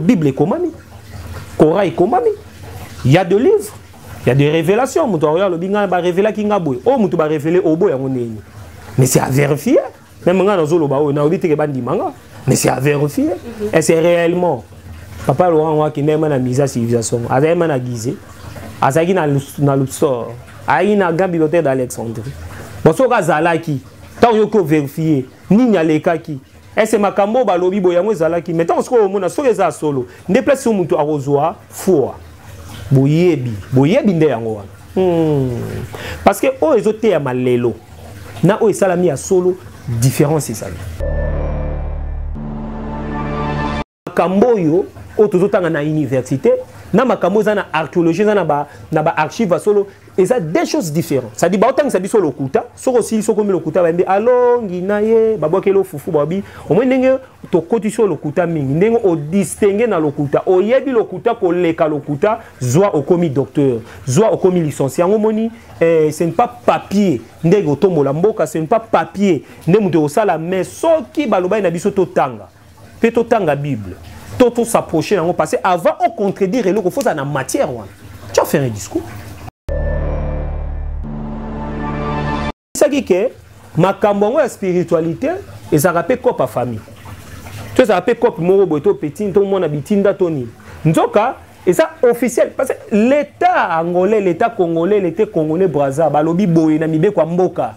bible ekomami coran ekomami ya de livre ya de révélation moto aoyo alobi ngai barevelaki ngai boye oyo moto barevele obo yango ndeni mais c'est à vérifier meme ngai nazoloba oyo nayobi teke bandima nga mais c'est à vérifier mhm. et c'est réellement papa laurent ngo akendaki ma na misa civilisation azalaki ma na gize azalaki na luxor ayaki na grand bibliothèque d'alexandrie bon soki azalaki ntango yoki ovérifie nini alekaki ese makambo oyo balobi boye yango ezalaki mai ntango sikoyo omona soki eza solo nde place oyo moto akozwa foi boyebi boyebi nde yango wana hmm. parce que oyo ezoteyama lelo na oyo esalami ya solo différence ezali makambo oyo oyo tozotanga na université na makambo eza na archéologie eza na ba na ba archive ya solo eza deux choses différentes ça dit baotangisa biso lokuta soko osili soko omi lokuta bayembi alongi na ye babwakeli ofufu babi omoi ndenge tokotisi oyo lokuta mingi ndenge odistingue na lokuta oyebi lokuta koleka lokuta zwa okomi docteur zwa okomi licencie yango omoni eh, ce ne pas papier ndenge otombola mboka ce ne pas papier nde moto ekosala mais soki balobaki na biso totanga mpe totanga bible to tosapproche yango parce que avant o contredire eloko fozala na matière wana tu as fait un discours esaki ke makambo yango ya spiritualité ezalaka mpe cope ya famille to ezalaka mpe cope moko boye to petine to mwana bitinda to nini nzoka eza officiel parce que l'état angolais l'état congolais l'état congolais braza balobi boye na mibeko ya mboka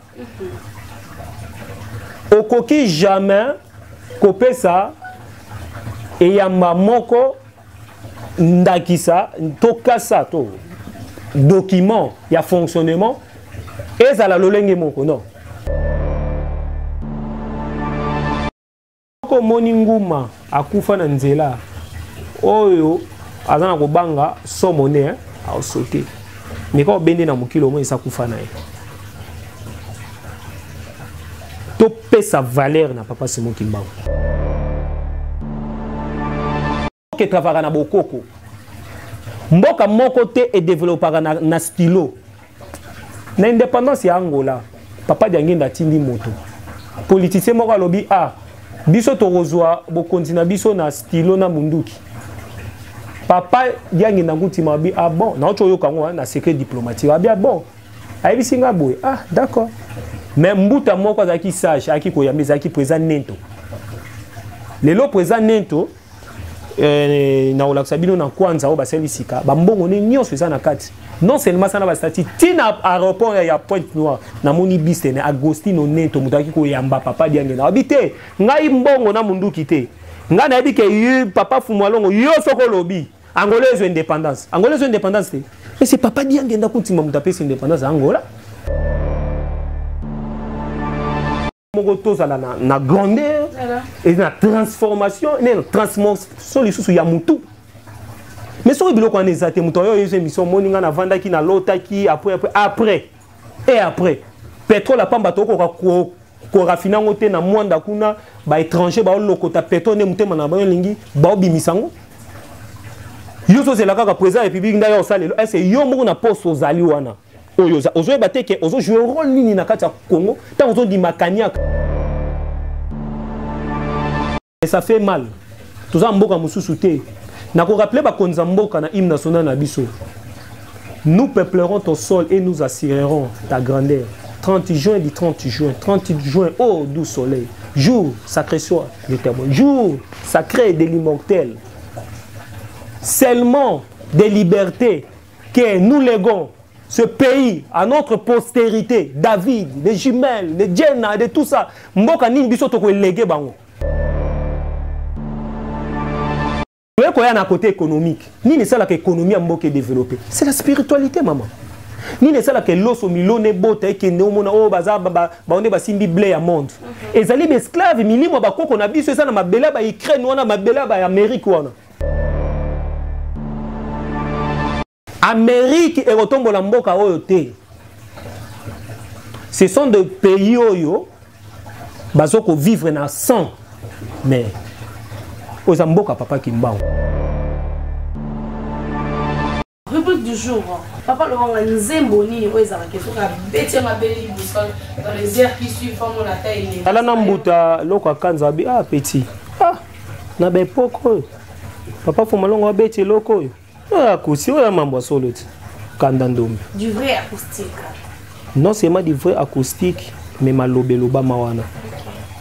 okoki jamais kopesa eyamba moko ndakisa to kasa to document ya fonctionnement ezala lolenge moko non soki omoni nguma akufa na nzela oyo aza na kobanga somo ne eh, aosote meka obende na mokili omoi esa kufa na ye topesa valeur na papa simon kimbangu mboka etravaka na bokoko mboka moko te edevelopaka na, na stilo na indépendance ya angola papa diangenda atindi moto politicien moko alobi a ah, biso tokozwa bokonzi na biso na stilo na munduki papa diangenda nkutima abi ah bon naoki oyoka yango na secret diplomatique abi ah bon ayebisi nga boye ah d'accord mais mbuta moko azalaki sage ayaki koyamba ezalaki président nento lelo président nento eh, nakolakisa bino na kwanza oyo basali sika bambongo ne nyonso eza na kati non seulement asala bastati ntina aéroport ya pointe noire namoni bistene agostino nento moto ayaki koyamba papa diangena abi te ngai mbongo na monduki te ngai nayebi ke papa fumualongo yo soko olobi Angola ezo indépendance. Angola ezo indépendance te. Mais c'est papa bien genda kuntima mutu apesi indépendance Angola. moko tozala na, na grandeur et na transformation ne na transformation lisusu ya mutu mais soki biloko wana eza te moto oyo oyezo émission omoni ngai navandaki nalotaki après après après et après petrole ya pamba tokoka korafine yango te na mwanda kuna baétranger baolokota petrole nde motema na bango elingi baobimisa yango yo ozozela kaka président ya république ndai osalelo ese yo moko na poste ozali wana oyo ozoyeba te ke ozojoue role nini na kati ya congo ntango ozondima kaniaka mais ça fait mal toza mboka mususu te na ko rappeler bakonzi ya mboka na hymne national na biso nous peuplerons ton sol et nous assurerons ta grandeur 30 juin du 30 juin 30 juin oh doux soleil jour sacré soit le témoin jour sacré de l'immortel seulement des libertés que nous léguons ce pays à notre postérité, David, les jumelles, les Jenna, de tout ça. Mboka nini biso toko elege bango. Toye koya na côté économique. Nini sala que économie mboka est développée. C'est la spiritualité maman. nini esalaka eloso milona ebota ekende omona oyo oh, baza baonde basimbi ble ya monde mhm. ezali baesclave milimo ya bakoko na biso eza na mabele ya baukraine wana mabele ya baamerique wana amerike ekotombola mboka oyo te ce sont de pays oyo bazo kovivre na 100 mais oyo eza mboka papa kimbangu Rubrique du jour. Papa Lobanga nzembo nini oyo ezalaka ke soki abeti yango abeli boussole dans les airs qui suivent fango na ta elenge. Tala na mbuta loko akanza abi ah petit. Ah na ba epoque oyo. Papa Fumalongo abeti eloko oyo. Oyo akusi oyo mambo solo ti. Kanda ndombe. Du vrai acoustique. Non seulement du vrai acoustique mais malobe lobama wana.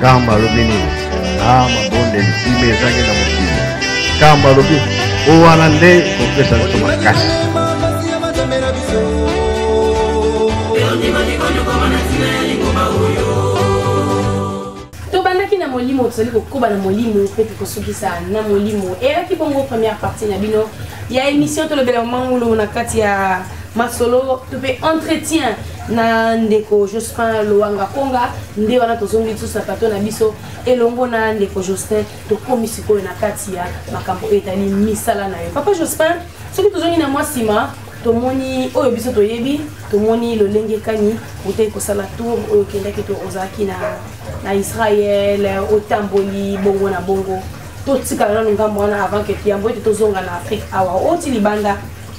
Kamba alobi nini? Ah, mabondeli kima ezangi na mokili. Kamba alobi oyo wana nde kopesa biso makasi. tobandaki na molimo tozali kokoba na molimo mpe tokosukisa na molimo eyaki bongo première partie na bino ya émission tolobela mangulo na kati ya masolo to mpe entretien na ndeko jospin loanga konga nde wana tozongi lisusu na plateau na biso elongo na ndeko jospin tokomi sikoyo na kati ya makambo oyo etali misala na yo papa jospin soki tozongi na mwa nsima tomoni oyo biso toyebi tomoni lolenge kani otei kosala tour oyo okendaki to ozalaki na, na israel otamboli bongo na bongo totikala nano ngambo wana avant ke tuyambo ete tozonga na afrique awa oti libanda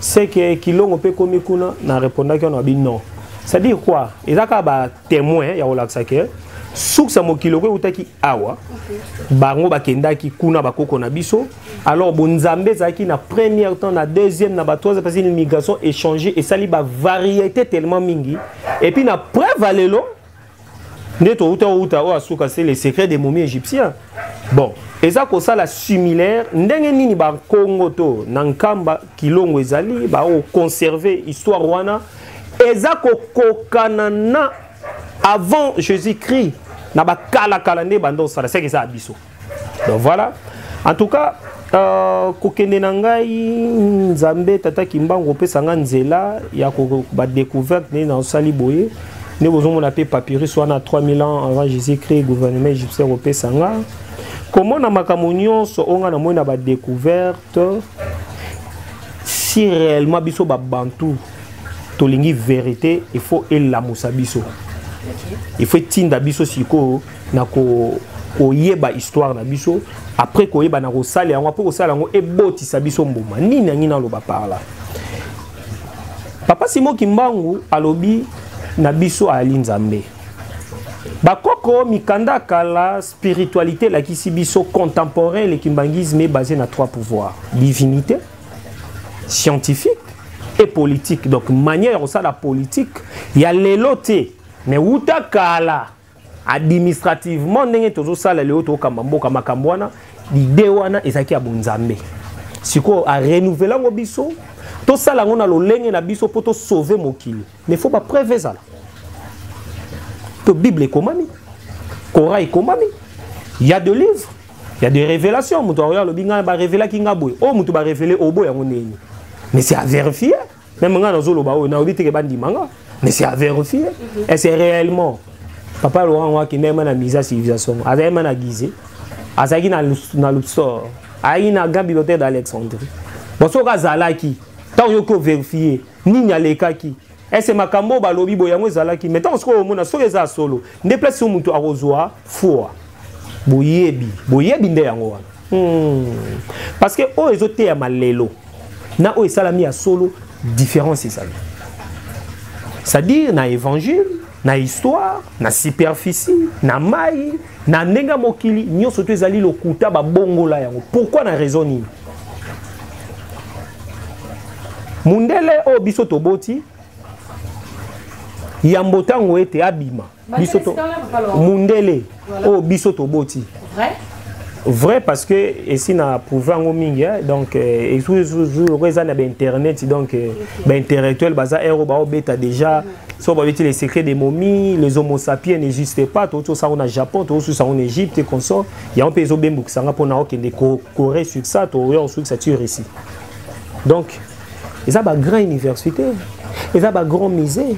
c'est que kilongo mpe ekomi kuna na repondaki wana abi non c'est à dire quoi eza kaka batémoin ya kolakisa ke suki ya mokili oko eutaki awa bango bakendaki kuna bakoko na biso alors bonzambe ezalaki na première temps na deuxième na batroisième parce l'immigration échange esali bavariété tellement mingi epuis na preuve ya lelo nde touta outa oyo asuka se le secret des momies égyptiens bon eza kosala similaire ndenge nini bakongo to na nkamba kilongo ezali baoconserve histoire wana eza kokokana na avant jésus christ na bakalakala nde banda osala seke eza ya biso donc voilà en tout cas Uh, kokende na ngai nzambe tata kimbangu opesa ngai nzela ya badecouverte nde nasali boye nde bozomona mpe papyrus wana 3000 ans avant jésus christ gouvernement égyptien kopesa nga komona makambo nyonso oyo ngai namoni na badecouverte si réellement biso babantu tolingi verité il faut elamusa biso il faut etinda biso sikoyo na ko koyeba histoire na biso après koyeba na kosala yango après kosala yango ebotisa biso mbuma nini yangi naloba par là papa simo kimbangu alobi na biso ayali nzambe bakoko mikanda kala spiritualité elakisi biso contemporain le kimbangisme est basé na trois pouvoirs divinité scientifique et politique donc manière ya kosala politique ya lelo te mais wuta kala administrativement ndenge tozosala lelo tokamba mboka makambo wana lide wana ezalaki ya bonzambe sikoyo arenouvele yango biso tosala yango na lolenge na biso mpo tosauve mokili mais faut bapreuve ezala to bible ekomami kora ekomami ya de livre ya de révélation moto aoyo alobi ngai barevelaki ngai boye oyo oh, moto barevele oboy oh, yango ndenge mais c'est à vérifier meme ngai nazoloba oyo nayobi teke bandima nga mais c'est à vérifier mhm. et c'est réellement papa laurent ngo akenda yema na misa civilisation aza yema na guise azalaki na luxor ayaki na grand bibliothèque d'alexandrie bon soki azalaki ntango yoki overifie nini alekaki ese makambo oyo balobi boye yango ezalaki mai ntango soki omona soki eza solo nde place oyo moto akozwa foi boyebi boyebi nde yango wana hmm. parce que oyo ezoteyama lelo na oyo esalami ya solo différence ezali c'est-à-dire na évangile na histoire na superficie na mai na ndenge ya mokili nyonso to ezali lokuta babongola yango pourkui na raison nini mundele oyo biso toboti yambo ntango ete abima biso to mundele oyo oh, biso toboti vrai vrai parce que esi na prouve yango mingi eh? donc esuku eza na bainternet donc euh, baintellectuel baza ero baobeta déjà so babeti les secrets des momies les homosapien n'existe pas touti osango na japon toususa yango na égypte consort yango mpe ezobembukisa nga mpo na okende corée sur ça toya osukisa ti russie donc eza ba grand université eza ba grand musée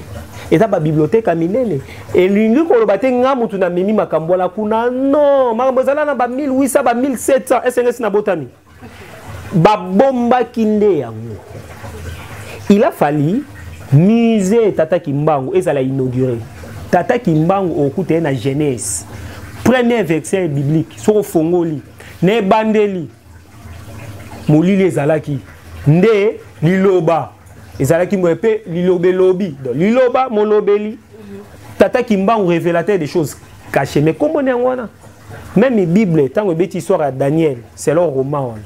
eza ba bibliothèque ya minene elingi koloba te nga mutu na memi makambo wana kuna non makambo ezala na ba 1800 ba 1700 esengesi na botami babombaki nde yango il a fallu musée tata kimbangu ezala inauguré tata kimbangu okuta ye na genèse premier verset biblique soki ofongoli na ebandeli molili ezalaki nde liloba ezalaki moye mpe liloba elobi donc liloba molobeli tata kimbangu révélateur des choses caché mais komboni yango wana meme bible ntango ebeti histoire ya daniel selon roman wana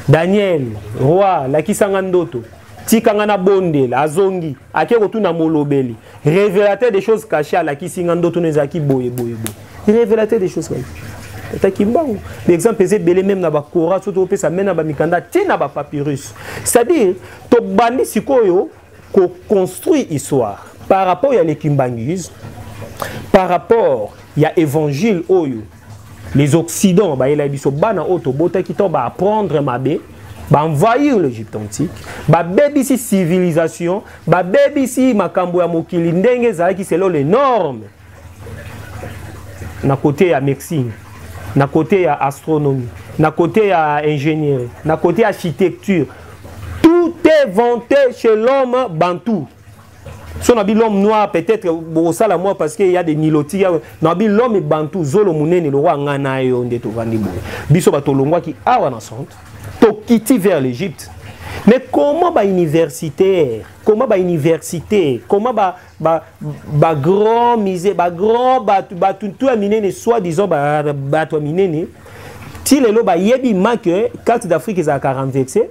daniel roi lakisanga ndoto tika nga nabondela azongi ake kotuna molobeli révélateur des choses cachées alakisi nga ndoto no ezalaki boye boye boye révélateur des choses cachées ata kimbangu baexemple eza ebele meme na bakora so topesa meme na bamikanda te na bapapyrus c'est-à-dire tobandi sikoyo koconstruire histoire par rapport ya lekimbanguisme par rapport ya évangile oyo les occidents bayelaki biso bana oyo tobotaki to baapprendre mabe baenvahir l'egypte antique babebisi civilisation babebisi makambo ya mokili ndenge ezalaki selo le norme na kote ya médecine na kote ya astronomie na kote ya ingénierie na kote ya architecture tout est vanté chez l'homme bantou so na bi l'homme noir peut-être bokosala mwa parce que ya de niloti ya na bi l'homme bantu zolo monene lokwa ngai na yo nde tovandi boye biso bato olongwaki awa na centre tokiti vers l'égypte mais comment ba universitaire comment ba université comment ba ba ba grand musée ba grand bato bato tout ya minene soit disant ba bato ya minene ti lelo bayebi ma que carte d'afrique ezalaka renversée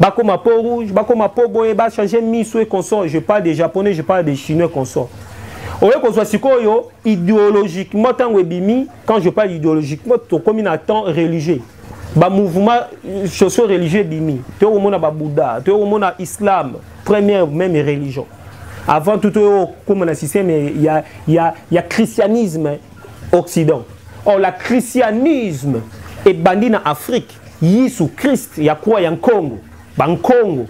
bakoma peau rouge bakoma peau boye bachange miso e consort je parle de japonais je parle de chinois consort oye kozwa sikoyo idéologiquement ntango ebimi quand je parle idéologiquement tokomi na temps religieux bamouvement euh, sociaux religieux ebimi toye komona babouddha toye komona islam première même religion avant tout toye kokoma na système ya, ya, ya christianisme occident or la christianisme ebandi na afrique yesu christ ya croix ya nkongo bankongo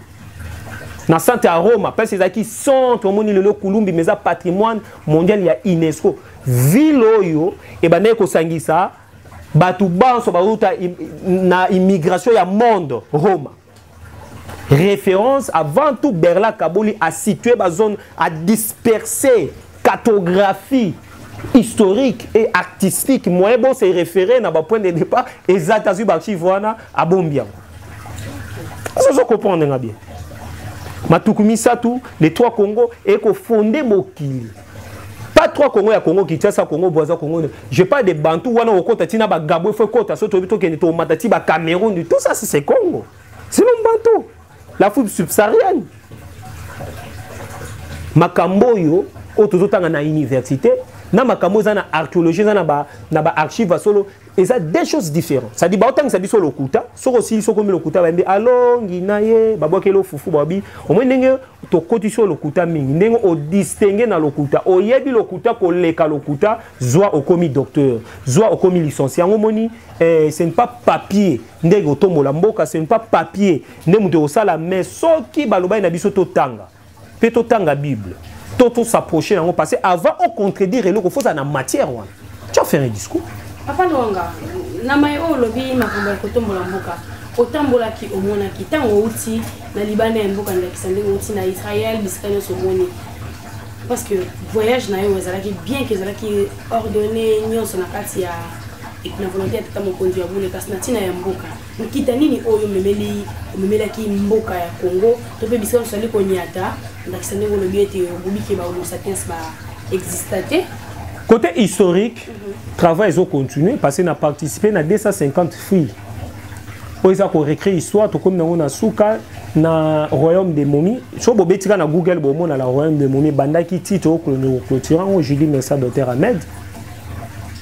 na centre ya roma place ezalaki centre omoni lelo kulumbi mais eza patrimoine mondial ya unesco ville oyo ebandaki kosangisa bato banso bauta na immigration ya monde roma référence avant tout berla kaboli a situé ba zone a dispersé cartographie historique et artistique moyen bon se référer na ba point de départ eza tazwi ba archive wana abombi yango azozo comprendre nga bien matuku misato les trois congo ekofonde mokili pas trois congo ya congo kinshasa congo boisa congo je parle de bantu wana okota ti na bagabo efo ekota so toyebi tokende tomata ti bacameroun tout ça c'est congo sinon bantu l'afrique subsaharienne makambo oyo oyo tozotanga na université na makambo eza na archéologie eza na baarchive ba ya solo eza deux choses différentes cest dit baotangisa biso lokuta soki osili soki omi lokuta bayembi alongi na ye babwakeli ofufu babi omoi ndenge tokotisi oyo lokuta mingi ndenge odistingue na lokuta oyebi lokuta koleka lokuta zwa okomi docteur zwa okomi licencie yango omoni eh, ce ne pas papier ndenge otombola mboka ce ne pas papier nde moto ekosala mais soki balobaki na biso totanga mpe totanga bible to tosapproche yango parce que avant ocontredire eloko fozala na matière wana tu as fait un discours papa longa na mai oyo olobi makambo ya kotombola mboka otambolaki omonaki ntango outi na libanda ya mboka ndakisa ndenge outi na israel bisika nyonso omoni parce que voyage na yo ezalaki bien ke ezalaki ordonné nyonso na kati ya na volonté ya tata mokonzi ya bule kasi na ntina ya mboka nkita nini oyo omemeli omemelaki mboka ya congo to mpe bisika mosusu ali konyata ndakisa ndenge olobi ete obubike bahomo sapiens ba exista te côté historique mm -hmm. travail ezo continue parce que na participe na 250 filles oyo eza korecree histoire tokomi nango na suka na royaume de momi so bobetika na google bomona la royaume de momi ebandaki tito oyo clôture yango julie mesa doter ahmed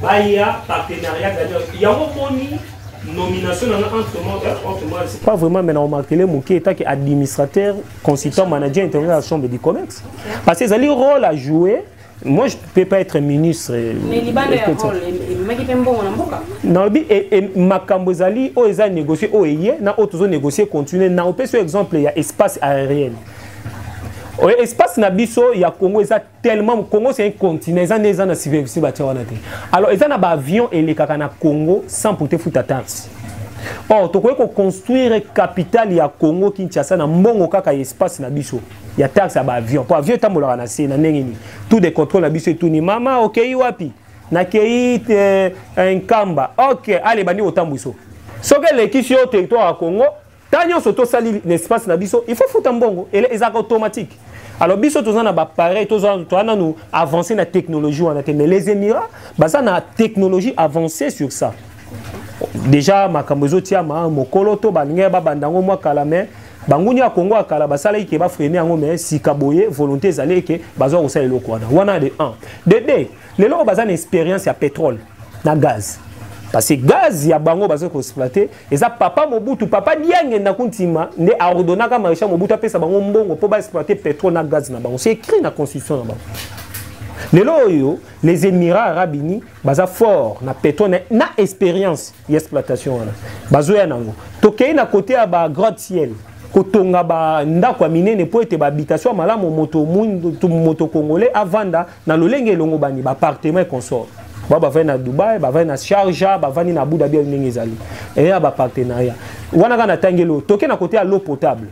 Baya partenariat gagnant. Yango boni nomination dans un tournoi c'est pas vraiment mais on marque les mots qui est administrateur consultant manager intérieur à la chambre du commerce parce que ça le rôle à jouer moi je peux pas être ministre euh, mais liban le rôle maki pe mbongo na mboka na lobi makambo ezali oyo eza négocier oyo eye na oyo tozo négocier continuer na opesi exemple ya espace aérien oyo espace na biso ya congo eza tellement Congo c'est un continent eza nde eza na superficie batia wana te alors eza na baavion elekaka na Congo sans pote futa taxe or tokoki koconstruire capitale ya Congo Kinshasa na mbongo kaka ya espace na biso ya taxe ya baavion mpo avion etambolaka na se na ndenge nini tout de contrôle na biso etuni mama okei wapi nakei eh, nkamba ok ale bandi kotambwiso soki elekisi yo territoire ya Congo ta nyonso tosali na espace na biso il faut futa mbongo ezalaka automatique alors biso toza na bapareil toza nanu avancé na technologie wana te mais les émirats baza na technologie avancée sur ça déjà makambo ezotiama mokolo to balingi babanda yango mwa kala mais banguni ya kongo ya kala basalaki ke bafrene yango mais sika boye volonté ezali eke bazwa kosala eloko wana wana de 1 de 2 lelo oyo baza na expérience ya pétrole na gaz parce que gaz ya bango bazo ko exploiter eza papa mobutu papa diange na kuntima nde ordonnaka maréchal mobutu apesa bango mbongo mpo ba exploiter pétrole na gaz na bango c'est écrit na constitution na bango lelo oyo les émirats arabes unis baza fort na pétrole na expérience ya exploitation wana bazoya nango tokei na kote ya ba grand ciel kotonga ba ndako ya minene mpo ete ba habitation ya malamu moto moto congolais avanda na lolenge elongobani ba appartement et consort ba bavandi na dubai bavandi na sharja bavandi na abu dhabi ndenge ezali eya bapartenariat wana kaka natangeli oyo toke na kote ya l'eau potable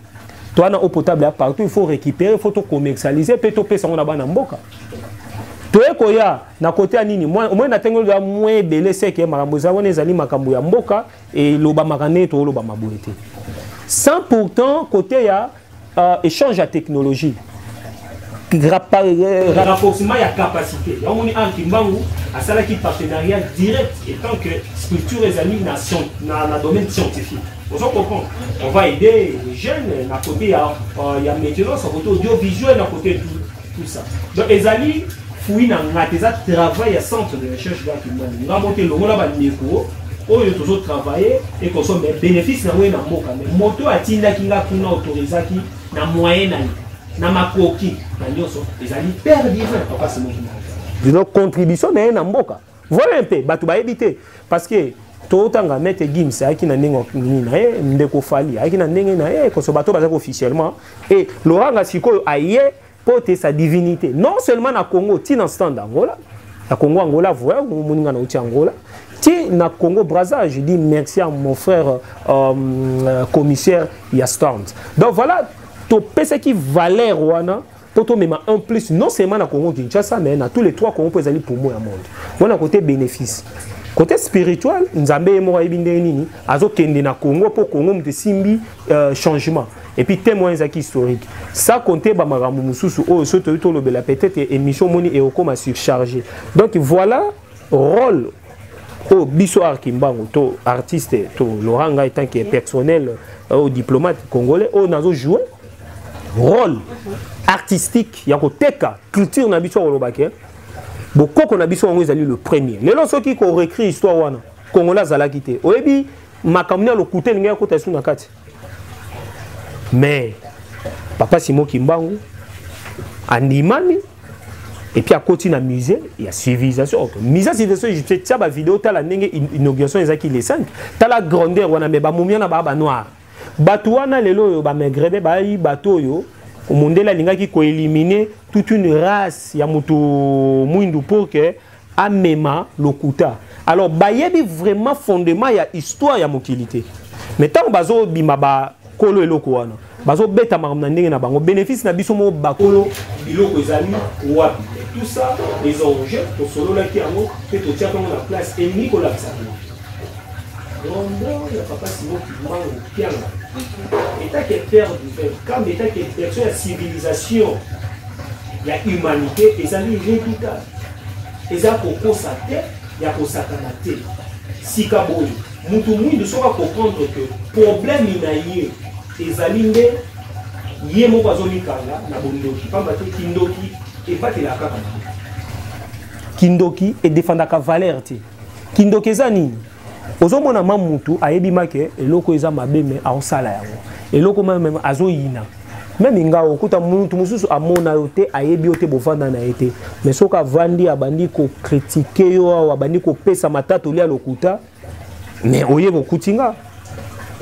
toa na eau potable ya partout il faut récupérer il faut tocommercialise mpe topesa yango na bana mboka toye koya na kote ya nini omoi natangeli ya mwa ebele seke makambo eza wana ezali makambo ya mboka elobamaka ndenge tolobama boye te sans pourtant kote ya Uh, échange ya technologie euh, renforcement ya capacité yango moni an kimbangu asalaki partenariat direct étant que structure ezali na, na, na domaine scientifique ozo comprendre on va aider les jeunes na côté ya, uh, ya maintenance na côté audiovisuel na côté tout tout ça donc ezali fui na nga te eza travail ya centre de recherche bwa kimbangu nga mote longola bandeko oyo tozo travailler ekoso mais bénéfice na ngoye na mboka mais moto atindaki nga kuna autorisaki na moyen na ye na makoki na nyonso ezali père divin papa simoki dino contribution na ye na mboka Voilà un peu, bato bayebi te parce que totanga mete gims ayaki na ndenge nini na ye ndeko fali ayaki na ndenge na ye koso bato bazalaki officiellement e loranga sikoyo aye mpo te sa divinité non seulement na congo ti na stand angola na congo angola voya moninga na uti angola ti na congo braza je dis merci à mon frère euh, euh commissaire ya stand donc voilà topesaki valeur wana mpo tomema un plus non seulement na congo kinshasa mais na tous les trois congo mpo ezali pomo ya monde wana kote bénéfice kote spirituel nzambe ye moko ayebi ndenge nini azokende na congo mpo congo moto esimbi euh, changement epuis teme wana ezalaki historique sa compte bamakambo mosusu oyo soki toyei tolobela peut-être émission omoni ekokoma surcharge donc voilà role oyo biso art kimbangu to artiste to laurent ngai tant que personnel oyo euh, diplomate congolais oyo nazo joue role artistique ya koteka culture na biso akoloba ke bokoko na biso yango ezali le premier lelo soki korecri histoire wana kongola azalaki te oyebi makambo nini ya lokuta elingaki akota esu na kati mais papa simo kimbangu andimami epuis akoti na musée ya civilisation okay. musée ya civilisation egyptienne tia bavideo tala ndenge inauguration ezalaki le 5 tala grandeur wana me bamomia na baa banoire bato wana lelo oyo bamegrebe bayi bato oyo mundele alingaki koelimine toute une race ya moto mwindu pour que amema lokuta alors bayebi vraiment fondement ya histoire ya mokili te mais ntango bazobima bakolo eloko wana bazobeta makambo na ndenge na bango bénéfice na biso moko bakolo biloko ezali wapi tout ça les enjeux tosololaki yango mpe totiaka yango na place elingi kolakisa rondeur ya papa simo kimango kianga etake père du peuple kamba etake version ya civilisation ya humanité ezali redoutable eza kokosa te ya kosakana te sika boye motu mwindu soki akomprendre ke problème na ye ezali nde ye moko azomikanga na bondoki mpamba te kindoki ebatelaka kaka na kindoki edefandaka valeur te kindoki eza nini ozomona ma mutu ayebi make eloko eza mabe me aosala yango eloko mame azoyina meme nga okuta mutu mosusu amona yo te ayebi yo te bovanda na ye te me soki avandi abandi kokritike yo awa abandi kopesa matatoli ya lokuta me oye kokuti nga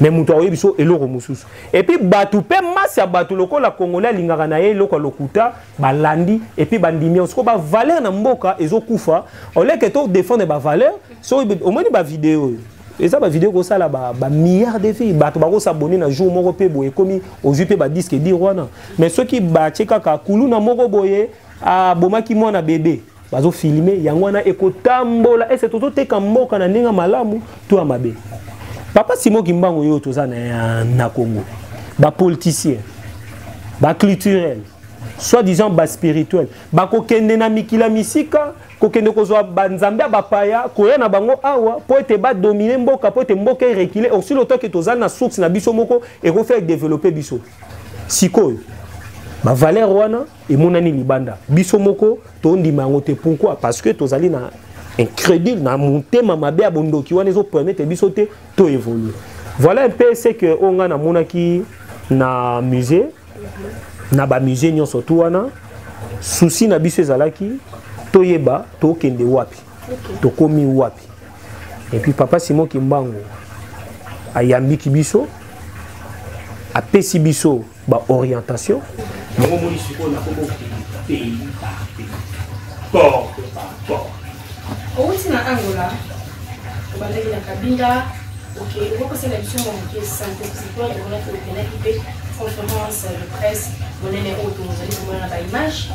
me moto akoyebi so eloko mosusu epuis bato mpe masi ya bato lokola kongole alingaka na ye eloko ya lokuta balandi epuis bandimi yango sikoyo bavaleur na mboka ezokufa oleke to defendre bavaleur so omoni bavideo oyo eza bavideo ekosala bamilliard de vie bato bakosabone na jour moko mpe boye ekomi ozwi mpe badiske dire wana mais soki batye kaka kuluna moko boye abomaki mwana bebe bazofilme yango wana ekotambola ese tozoteka mboka na ndenge ya malamu to ya mabe papa simo kimbangu oyo toza na, na congo bapoliticien baculturel soit disant baspirituel bakokende na mikila misika kokende kozwa banzambe ya bapaya koya na bango awa mpo ete badomine mboka mpo ete mboka erekile aussi longtemps ke tozali na source na biso moko ekofai edeveloppe biso sikoyo bavaleur wana emonani libanda biso moko tondima yango te pourquoi parce que tozali na incrédule na motema mabe ya bondoki wana ezopermete biso te to évolue voilà un peu ce que oyo ngai namonaki na musée na bamusée nyonso tu wana susi na biso ezalaki toyeba tokende wapi tokomi wapi epuis papa simon kimbangu ayambiki biso apesi biso baorientation yango omoni sikoyo nakobo pays par pays porte par porte Owuti na Angola, obandaki na Kabinda, ok, okosala biso mwa moke sante sikoyo emonaki openaki mpe conférence de presse monene oyo tozali komona na baimage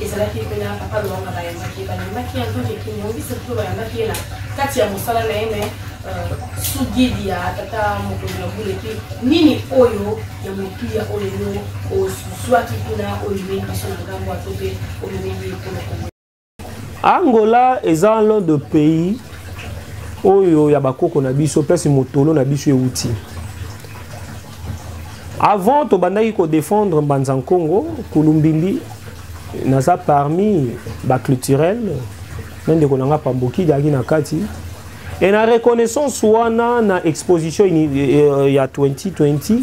ezalaki mpena papa lowanga bayambaki ye bayambaki ye antoke kimongisi mpe bayambaki ye na kati ya mosala na ye me euh, sous guide ya tata mokonzi ya buleki nini oyo ya motuya oyo yo ozwaki kuna oyo emeyi biso na ngambo ato mpe omemeli ye mpo na Angola eza l'un de pays oyo ya bakoko na biso place motolo na biso euti avant tobandaki kodefendre mbanza nkongo kulumbimbi naza parmi baclturel na ndeko na nga pambokidi ayaki na kati e na reconnaissance wana na exposition eh, eh, ya 2020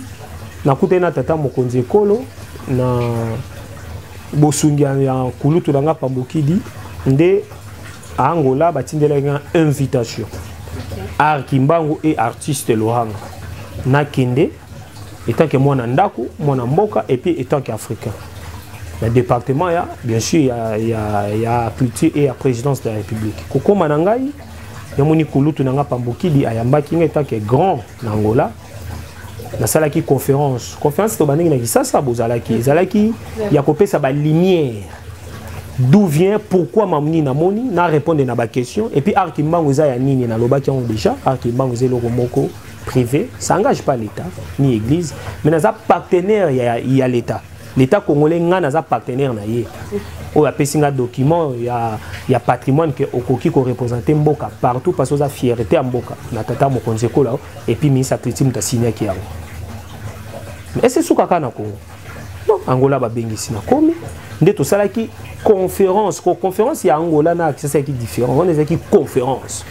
nakutani na tata mokonzi ekolo na bosungi ya kulutu na nga pambokidi nde angola batindelaki nga invitation art kimbangu e artiste lohanga nakende etant que mwana ndako mwana mboka epuis etant que africain na département ya bien sûr ya, ya, ya culture et ya présidence de la république kokóma na ngai yamoni kulutu na nga pambokidi ayambaki nga etant que grand na angola nasalaki conférence conférence tobandaki na kisasa bozalaki ezalaki ya kopesa balumière d'où vient pourquoi mamuni namoni na répondre na baquestion et puis arki mbango eza ya nini nalobaki yango déjà arki mbango eza eloko moko privé ça engage pas l'état ni église mais naza partenaire ya, ya l'état L'État congolais nga naza partenaire na ye oyo apesi nga document ya, ya patrimoine ke okoki korepresente mboka partout parce oza fierté ya mboka na tata mokonzi ekola et puis ministre atleti moto asignaki yango ese esukaka na congo non angola babengisi na komi nde tosalaki conférence ko conférence ya angola na akisasalaki différence wana ezalaki conférence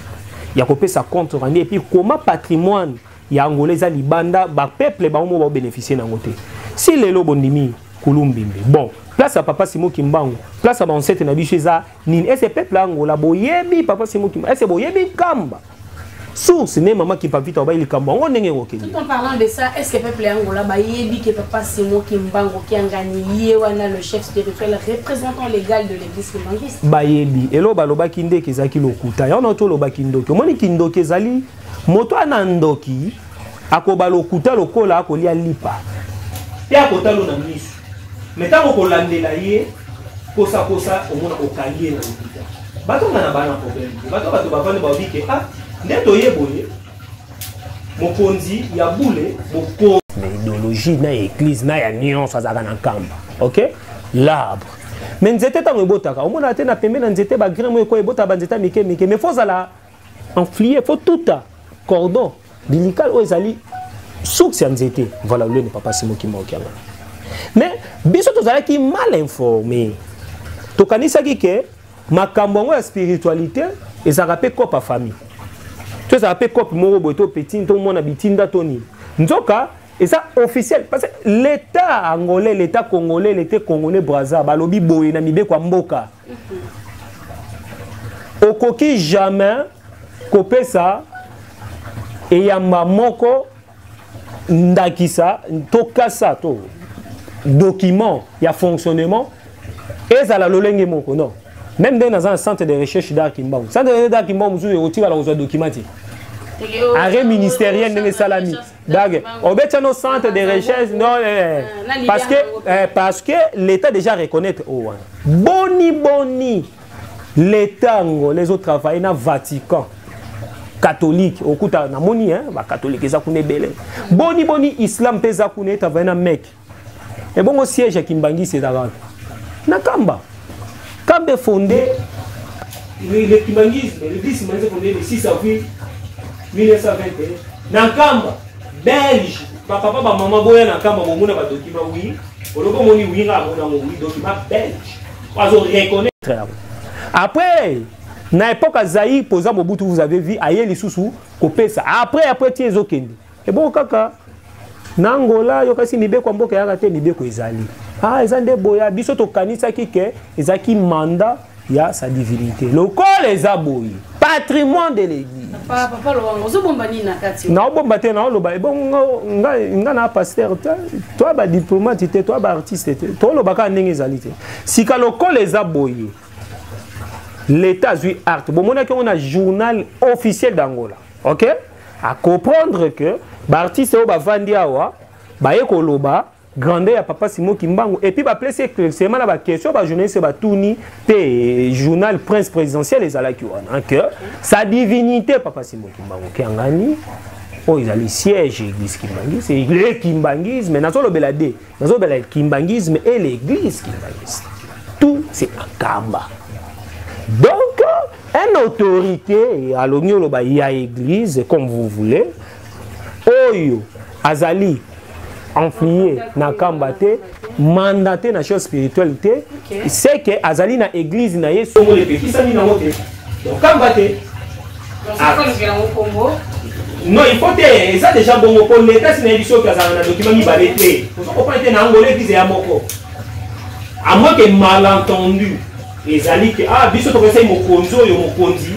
ya kopesa compte rendu et puis koma patrimoine ya angola eza libanda bapeuple bango moko baobénéficie na yango te si lelo bondimi kulumbimbi bon place ya papa simo kimbangu place ya bansete na biso eza nini ese peuple ya angola boyebi papa simo kimbangu ese boyebi nkamba source ne mama kipavita obayi likambo yango ndenge ekokende tout en parlant de ça est ce que peuple ya angola bayebi ke papa simo kimbangu kiangani ye wana le chef spirituel représentant légal de l'église kimbanguiste bayebi eloo balobaki ndeke ezalaki lokuta yango na to olobaki ndoki omoni kindoki ezali moto ana ndoki akoba lokuta lokola akolia lipa mpe akotalo na miso me ntango kolandela ye kosakosa omona okangi ye na lokuta bato nga na bana problème te bato bato bavandi baobi ke a ah, nde toye boye mokonzi ya bule mokonzi na idéologie na ya église na ya nyonso azalaka na nkamba ok l'arbre me nzete ntango ebotaka omonaka te na pembe na nzete bagremo ekoya ebotaka banzete ya mike mike me fo ozala enflie faut tuta cordon bilikale oyo ezali source ya nzete voilà lolene papa simoki maoki yango mais biso tozalaki mal informe tokanisaki ke makambo yango ya spiritualité ezalaka mpe cope ya famille to ezalaka mpe cope moko boye to petine to mwana bitinda to nini nzoka eza officiel parce que l'état angolais l'état congolais l'état congolais braza balobi boye na mibeko ya mboka okoki jamais kopesa eyamba moko ndakisa to kasa to document ya fonctionnement ezala lolenge moko non même ndenge naza na centre de recherche d'art kimbangu centre de recherche d'art kimbangu mosusu ekotikala kozwa document te arrêt ministériel ndenge esalami Dage, obetya no centre de recherche non eh, eh, eh. parce que eh, parce que l'état déjà reconnaître oh, wana. Boni boni l'état ngolais ezo travailler na Vatican. catholique okuta namoni hein ba catholique eza kuna ebele boni boni islam mpe eza kuna etavaye na meke ebongo siège ya kimbangisi ezalaka wapi na kamba kamba efonde le kimbangisme le 10 manze fonde le 6 avril 1921 na kamba belge bapapa bamama boya na kamba bomona badokima wi olobi omoni wi nga amona ngo wi dokima belge azo reconnaître yango après na epoque ya zaire mpoza mobutu vous avez vu aye lisusu kopesa après après ti ezokende ebongo kaka na angola yokasi mibeko ya mboka eyaka te mibeko ezali ah eza nde boya biso tokanisaki ke ezalaki manda ya sa divinité lokola eza boye patrimoine de l'église naobomba te naoloba ebongo nga na pasteur te toa badiplomate te toa baartiste te tooloba kaka ndenge ezali te sika lokola eza boye l'état azwi arte bomonaki yango na journal officiel d'angola ok a comprendre que ba artiste oyo bavandi awa baye koloba grandeur ya papa simo kimbangu epuis bapesi éclaircissement na baquestion bajournaliste batuni mpe journal prince présidentiel ezalaki wana que sa divinité papa simo kimbangu kiangani oyo ezali siège ya eglise kimbanguise le kimbanguisme nazolobela de nazobela kimbangisme et l'église kimbangisme tout c'est akamba donc un autorité alongi oloba ya église comme vous voulez oyo azali enflie na kamba te mandate na chose spirituelle te okay. seke azali na église na ye songolo epekisami nango te Okamba te. Ah. Non, il faut te, eza déjà bongo po leta si nayebi soki azala na document mibale te. Ozo comprendre te na angolais visa ya moko. À moins que malentendu ezali ke ah biso tokesai mokonzi oyo mokonzi.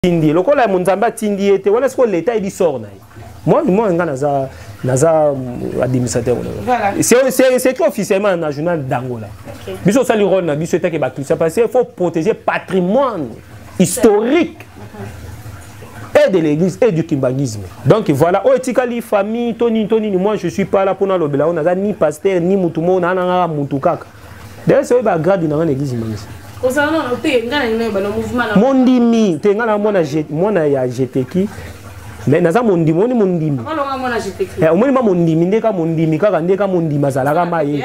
Tindi lokola ya monzambe atindi ye te wana sikoyo leta ayebi sort na ye. Moi, moi, nga naza naza mm, administrateur voilà. c'est écrit officiellement na journal d'Angola. Okay. Biso sali rôle na biso etake ba ça parce qu'il faut protéger patrimoine historique et de l'église et du kimbanguisme. Donc voilà, oh etikali famille toni toni moi je suis pas là pour na lobela on a ni pasteur ni mutumo na na mutukaka. D'ailleurs, c'est ba grade na l'église imangisa. Ozana na te ngana ngana ba mouvement na. Mondimi, te ngana mwana mwana ya jeteki. Mais naza mondimi, oni mondimi. Olonga mwana jeteki. Eh, omoni ma mondimi ndeka mondimi kaka ndeka mondimi azalaka maye.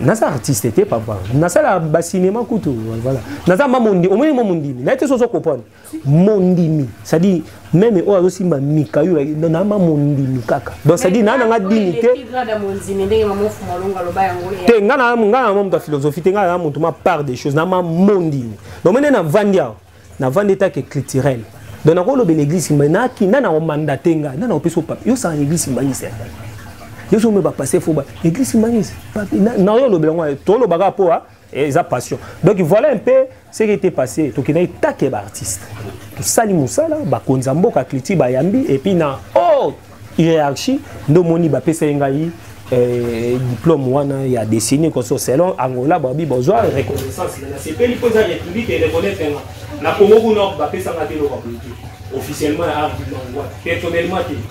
naza artiste te papa nasala bacinema kutu voilà naza ma mondimi omoni mo mondimi naye te sozo kopona mondimi c'est-à-dire meme oyo azosimba mika yo nama mondimi kaka donc c'est-à-dire naa nanga dini te te nga na moto ya philosophie te nga na moto ma part des choses nama mondimi donc mene navandi awa navandi etake culturel donc nakolobela église simba naki na nakomanda te ngai na nakopesa opape yosala église simbangisa yo soki omebapasse fo ba église simbangisa nayo olobela ngo tolobaka mpo Eh, eza passion donc voilà un peu ce qui était passé tokendaki take baartiste tosali mosala bakonzi ya mboka cliti bayambi epuis na haute hiérarchie nde omoni bapesaki ngai eh, diplôme wana ya dessine koso selon angola babi bozwa reconnaissance nasepeli mpo eza république ereconnaitre nga na congo kuna bapesanga te eloko ya politique officiellement na art personnellement te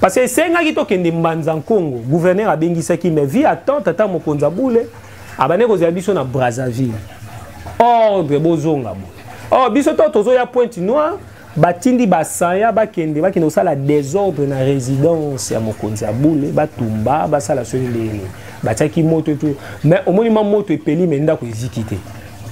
parce que esengaki tokende mbanza nkongo gouverneur abengisaki mais vie attend tata mokonzi ya bule abandaki kozela biso na brazzaville ordre bozonga bo or biso to tozoya pointe noire batindi basaya bakende bakende kosala desordre na résidence ya mokonzi ya bule batumba basala soki ndenge nini batiaki moto etu mais omoni ma moto epeli me ndako eziki te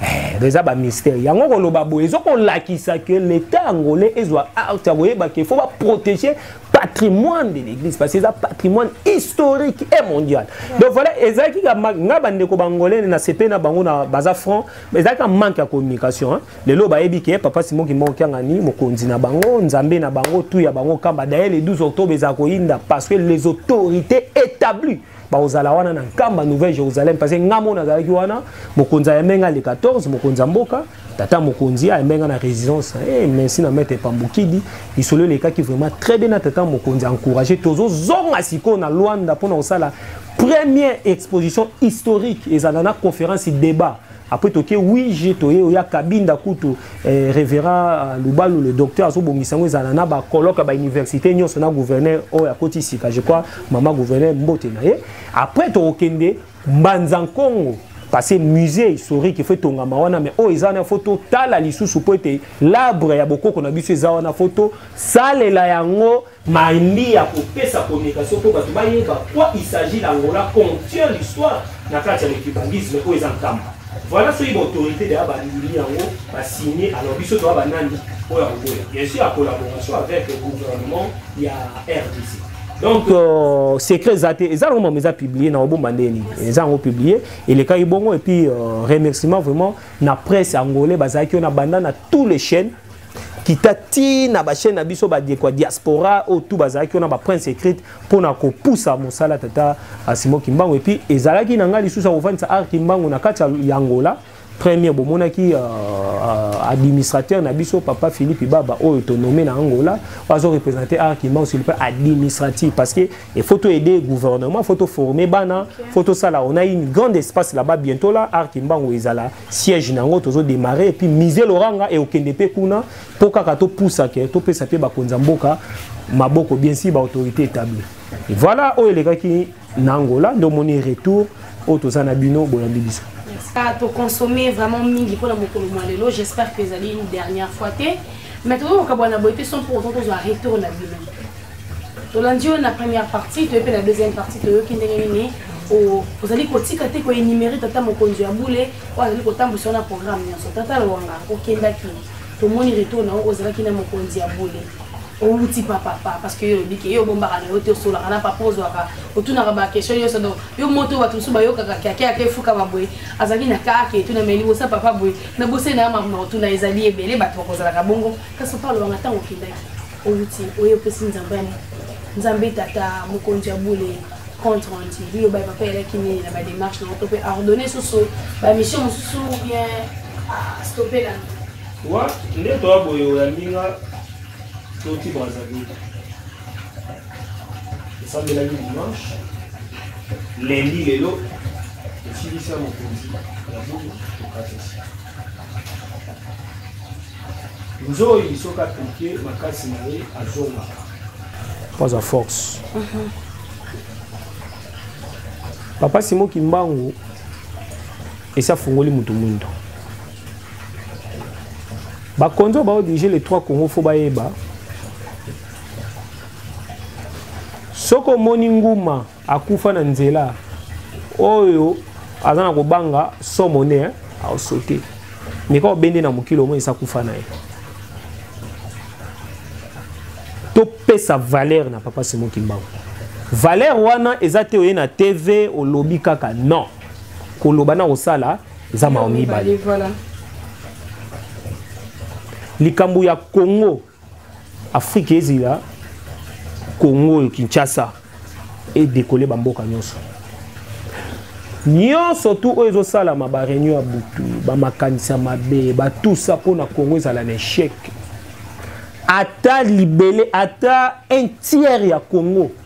eh, eza bamystère yango koloba boye ezokolakisa ke leta angolais ezwa arte ya koyeba ke fo baprotege patrimoine de l'église parce que eza patrimoine historique et mondial donc voilà ezalaki nga bandeko bangolene na sepe na bango na baza franc ezalaki manque ya communication hein. lelo bayebi ke papa simon kimoko kiangani mokonzi na bango nzambe na bango tu ya bango kamba daye le 12 octobre ezala koyinda parce que les autorités établies bakozala wana na nkamba nouvelle jérusalem parce que nga mona azalaki wana mokonzi ayembe nga le 14 mokonzi ya mboka tata mokonzi ayembe nga na résidence hey, eh, merci na maître pambukidi lisolo elekaki vraiment très bien na tata mokonzi encouragé tozozonga sikoyo na lwanda mpona kosala première exposition historique ezala na conférence débat après toke wige toye oya kabinda kutu eh, révérend euh, lubalu le docteur azobongisa yango ezala na bacolloque ya bauniversité nyonso na gouverneur oyo akoti sika je crois mama gouverneur mbote na ye après tokokende mbanza nkongo parce que musée historique efo etongama wana mais oyo eza wana fo totala lisusu mpo ete labre ya bokoko na biso eza wana fo tosalela yango Maembi ya kopesa communication mpo bato bayeba quoi il s'agit na Angola contient l'histoire na kati ya le cubanisme oyo eza nkamba. Voilà soki baautorité deya bandimi yango basigne alors biso toya banani oyo ya koboya bien sûr ya collaboration avec le gouvernement ya RDC. donc euh, secret eza te eza nango mama eza publie na obomba ndenge nini eza yango publie elekaki bongo et puis euh, remerciement vraiment na presse angolais bazalaki oyo na banda na tous les chaînes kita ti na bachaine na biso badeko ya diaspora oyo tu bazalaki wana baprince écrite mpo na kopusa mosala tata asimo kimbangu epuis ezalaki na ngai lisusu akofandisa ar kimbangu na kati ya angola premier bomonaki uh, uh, administrateur na biso papa philippe baba oyo tonome na angola bazo représente ar kimbangu sur le plan administratif parce que il faut to aider gouvernement faut to former bana faut tosala on a une grande espace là-bas bientôt là ar kimbangu ezala siège nango tozo démarrer et puis musée Loranga et okende pe kuna po kaka to poussa ke to pesa pe bakonza mboka maboko bien sûr ba autorité établie et voilà oyo elekaki na Angola ndo moni retour oyo toza na bino boyambi biso ah, to consommer vraiment mingi pona mokolo mwa lelo j'espère que ezali une dernière fois te mais tozo kokabwana boye te sans pour autant tozwa retour na bino tolandi yo na première partie toye mpe na deuxième partie toyoki ndenge nini ozali kotika te koenumere tata mokonzi ya bule oyo azali kotambwisa yo na programme nyonso tata lwanga okendaki tomoni retour na yo ozalaki na mokonzi ya bule owuti papapa parce que yo olobi ke yo obombaka na yo te osolaka na papa ozwaka otunaka baquestion nyonso donc yo moto bato mosusu bayokaka kiake yake efukama boye azalaki na kaka etuna mai libosa papa boye na boseli na yo makambo otuna ezali ebele bato bakozalaka bongo kasi papa lobanga ntango okendaki owuti oyo opesi nzambe yango nzambe tata mokonzi ya bule compte rendu biloba papa elaki nini na bademarche nango to mpe ordonne susu bamission mosusu bien ah, stope na wa nde toya boye oyambi nga toti brazzaville esambelaki dimanche lendi lelo esilisa mokonzi ya bule tokatisi Nzoyi soki apiquer makasi na ye azongaka. Mpo aza force. Mhm. Papa Simon Kimbangu esi afungoli moto mwindo. Bakonzi oyo baodirige les trois Congo fo bayeba soki omoni nguma akufa na nzela oyo aza na kobanga somo ne eh, aosote meka obende na mokili omoi esa kufa na ye topesa valeur na papa simo kimbangu valeur wana eza te oye na tv olobi kaka non koloba na kosala eza mawa mibale likambo ya congo afrique ezila congo oyo kinshasa edekole bamboka nyonso nyonso tu oyo ezosalama bareunion ya butu bamakanisi ya mabe batusa mpo na congo ezala na echec ata libele ata un tiers ya congo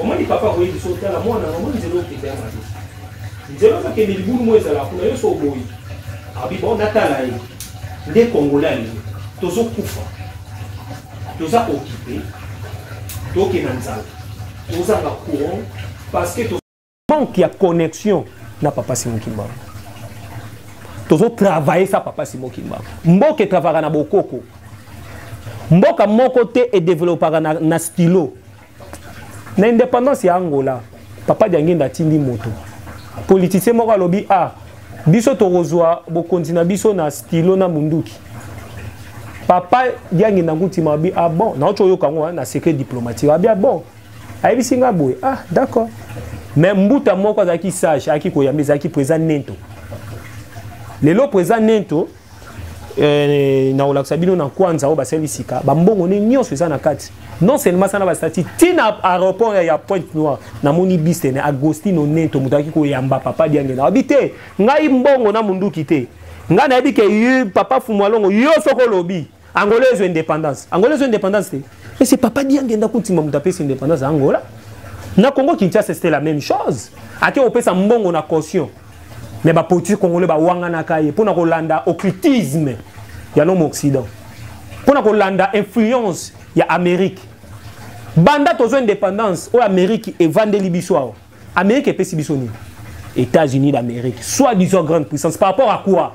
omoni papa akoyi biso otala mwana yango omoni nzela okende ya mabe nzela ozokende libulu mo ezala kuna yo so oboyi abi bo natala ye nde kongola lelo tozokufa toza okipe tokenda nzala tozanga courant parce que manque ya connexion na papa simo kimbangu tozo travailler sa papa simo kimbangu mboka etravaka na bokoko mboka moko te edevelopaka na, na stylo na indépendance ya angola papa diangenda atindi moto politicien moko alobi a ah, biso tokozwa bokonzi na biso na stylo na munduki papa diangenda ngutima abi ah bon naocoyoka yango na secret diplomatique abi ah bon ayebisi nga boye ah d'accord mais mbuta moko azalaki sage ayaki koyamba ezalaki président nento lelo président nento eh, nakolakisa bino na kwanza oyo basali sika bambongo ne nyonso eza na kati non seulement sana basati ntina aéroport ya pointe noire namoni bistene agostino nento moto ayaki koyamba papa diangela abi te ngai mbongo na monduki te ngai nayebi ke papa fumualongo yo soko olobi Angola ezwa indépendance. Angola ezwa indépendance te. Et c'est Papa Diangenda Kuntima moto apesi indépendance ya Angola. Na Congo Kinshasa c'était la même chose. Ake opesa mbongo na caution. Mais ba politique congolais ba wanganaka ye pona kolanda occultisme ya l'homme occident. Pona kolanda influence ya Amérique. Banda tozwa indépendance oyo Amérique evandeli biso awa. Amérique epesi biso nini? États-Unis d'Amérique, soi-disant grande puissance par rapport à quoi?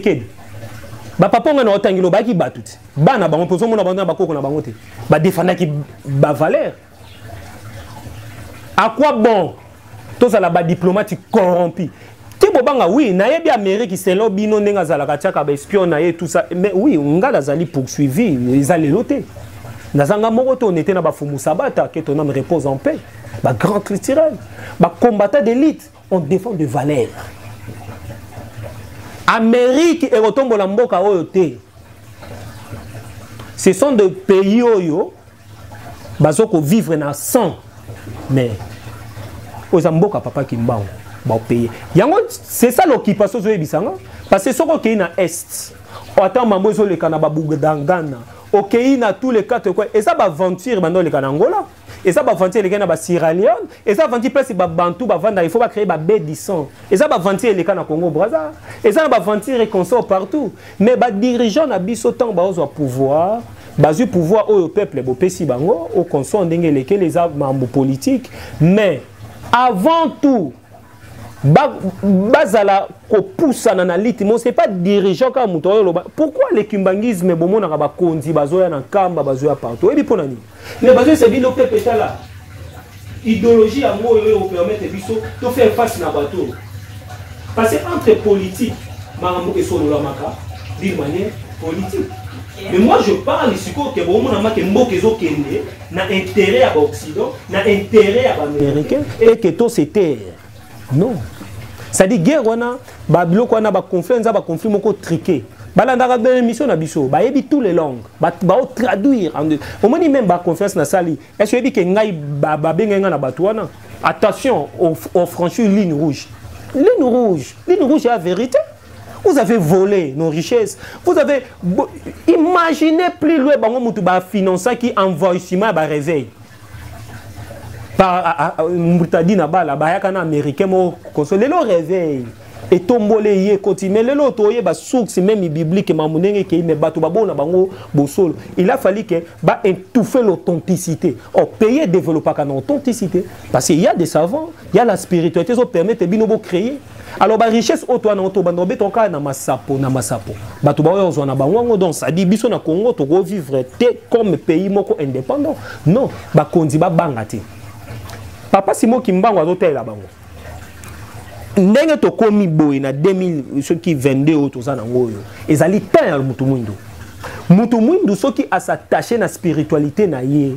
kede bapapa ngai na otangi lobaki bato te bana bango mpe ozomona bango na bakoko na bango te badefandaki bavaleur à quoi bon tozala badiplomate corrompu te bobanga oui nayebi amérique selon bino ndenge azalaka atiaka baespion na ye tout ça mais oui ngai nazali poursuivi eza lelo te nazanga moko to nete na bafumu sabata que ton ame repose en paix bagrand culturel bacombatant d'élite on défend de valeur amérique ekotombola mboka oyo te ce sont de pays oyo bazo kovivre na sang mais oyo eza mboka papa kimbangu baopeye yango c'est ça l'occupation ozoyebisa nga parce que soki okei na est ata mambo ezoleka na babugdangana okei na tous les quatre coin eza baaventure banda oleka na angola eza baventure eleka na ba sierra leone eza aventure place babantu bavandaka il faut bacreye babe dison eza baventure eleka na congo braza eza na baventure consort partout mais badirigeant na biso ntango baozwa pouvoir bazwi pouvoir oyo peuple bopesi bango au consort ndenge elekeli eza mambo politique mais avant tout bazala kopusana na liti mo c'est pas dirigeant kaka moto oyo oloba pourquoi le kimbangisme bomonaka bakonzi bazoya na nkamba bazoya partout oyebi mpo na nini me bazoyisa bino pepe tala idéologie yango oyo oyo opermettre biso tofaire face na bato oyo parce que entre politique makambo esololamaka d'une manière politique mais moi je parle sikoyo ke bomonamake mboka ezokende na intérêt ya baoccident na intérêt ya baaméricain et que to se taire non c'est-à-dire guerre wana babiloko wana baconflit eza baconflit moko trike balandaka bene émission na biso bayebi tous les langues baotraduire omoni meme baconférence nasali est ce oyebi ke ngai babengai ngai na bato wana attention ofranchir ligne rouge ligne rouge ligne rouge ya vérité vous avez volé nos richesses vous avez imaginez plus loin bango mutu bafinancaki envoyissement ya bareveil mutadi na bala bayaka na américain moko koso lelo reveil etomboli ye ekoti me lelo toyeba source meme biblique mamu ndenge ekei me bato baboo na bango bosolo il a fallu ke ba étouffe l'authenticité or pays edeveloppaka na authenticité parce que ya des savants ya la spiritualité ezopermettre bino bocréer alors barichesse oyo toa nango tobanda obetaka kaka na masapo na masapo bato baoyo ozwa na bango yango donc sadi biso na congo tokovivre te comme pays moko indépendant non bakonzi babanga te papa simo kimbango azotalela bango ndenge tokomi boye na 2000 soki 22 oyo toza nango oyo ezali temps ya motu mwindo motu mwindu soki asatache na spiritualité na ye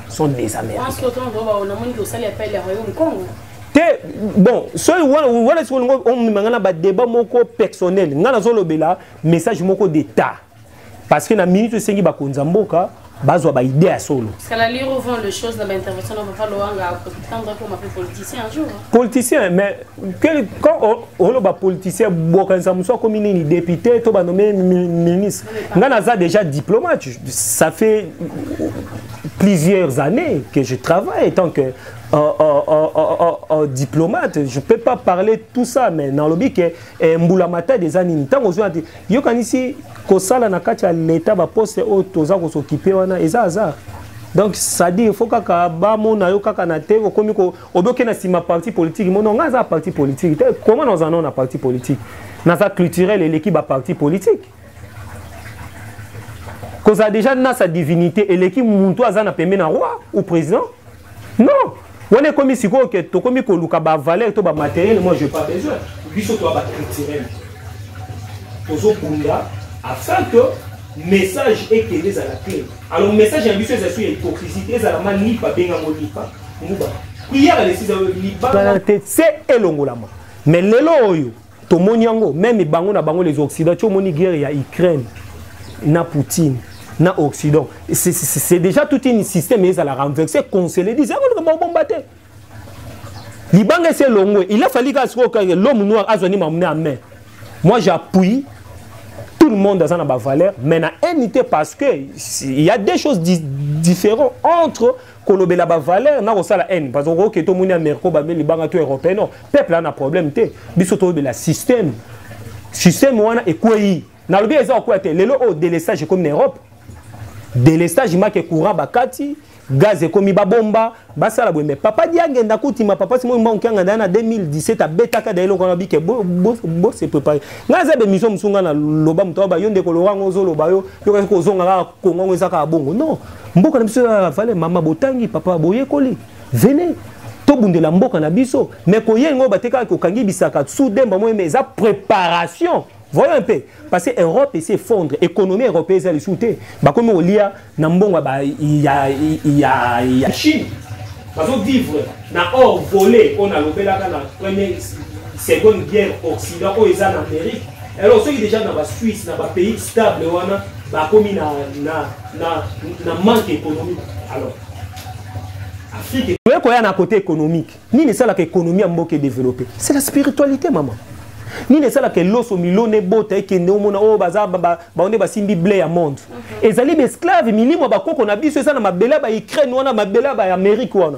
sont des américains te bon soki wana sikoyo olingi omema ngai na badeba moko personnel ngai nazolobela message moko d'état parce que na minute esengi bakonzi ya mboka bazwa baide ya solo politicien mais oloba politicien bokanisa mosu akomi nini député to banome ministre ngai naza déjà diplomate ça fait plusieurs années que je travaille en tant que euh, euh, euh, euh diplomate, je ne peux pas parler tout ça, mais dans le but que eh, Mboulamata des animes, tant qu'on a dit, yo quand ici, Kosala na katia l'État, ba poste au toza qu'on s'occupe, wana, et ça, hasard. donc sadi il faut kaka bamona yo kaka na te okomi oboke na nsima parti politique mono ngai aza parti politique te koma nazana na parti politique naza culturel eleki baparti politique kozala déjà na sa divinité eleki muntu aza na pembe na roi ou président non wana ekomi sikoyo ke tokomi koluka bavaleur to bamateriel moi je pas besoin biso toa baculturel tozobunda afin que message ekende ezala clair alors message ya biso ezali so ya hypocrisie te ezala ma lipa bengango lipa nguba priere alesisa libala te se elongolama mais lelo oyo tomoni yango meme bango na bango les occident ti omoni guerre ya ukraine na poutine na occident c'est déjà tout une système ezala renverse conseillé dise yango likambo babomba te libanga esi elongwe il a falli kaka sikoyo kaka l'homme noir azwa ni mamune ya main moi j'appuie tout le monde aza na bavaleur mais na haine te parce que il y a des choses di différentes entre kolobela ba valeur na kosala haine parce que oke tomoni amerika bame libanga to européen non peuple ana problème te biso toyebela système système wana ekwei nalobi eza kokwea te lelo oyo delestage ekomi na europe delestage make courant bakati gaz ekomi babomba basala boye me papa diange ndakutima papa simoyi mbangu kianga ndaya na 2017 abetaka da eloko wana bike bose prépare ngai aza bemission mosu ngai naloba moto aba yo ndeko lorango ozoloba yo yokaki kozonga kaka kongo yango eza kaka bongo non mboka na biso eza na valeur mama botangi papa boyekoli venez tobundela mboka na biso mais koye yango batekaka kokangi bisaka sous demba moye mais eza préparation voyons un peu parce que europe esi effondre économie européen eza lisusu te bakomi kolia na mbongo ya, ya, ya chine bazovivre na or volé oyo nalobelaka na premier seconde guerre occident oyo eza na amérique alors soki déjà na basuisse na bapays stable wana bakomi na, na, na, na manque économique alors afrique oye koya na côté économique nini esalaka économie ya mboka edéveloppe c'est la spiritualité maman nini esalaka eloso milona ebota ekende omona oyo oh, baza baonde basimbi ble ya monde mhm. ezali baesclave milimo ya bakoko na biso eza na mabele ya baukraine wana mabele ya baamerique wana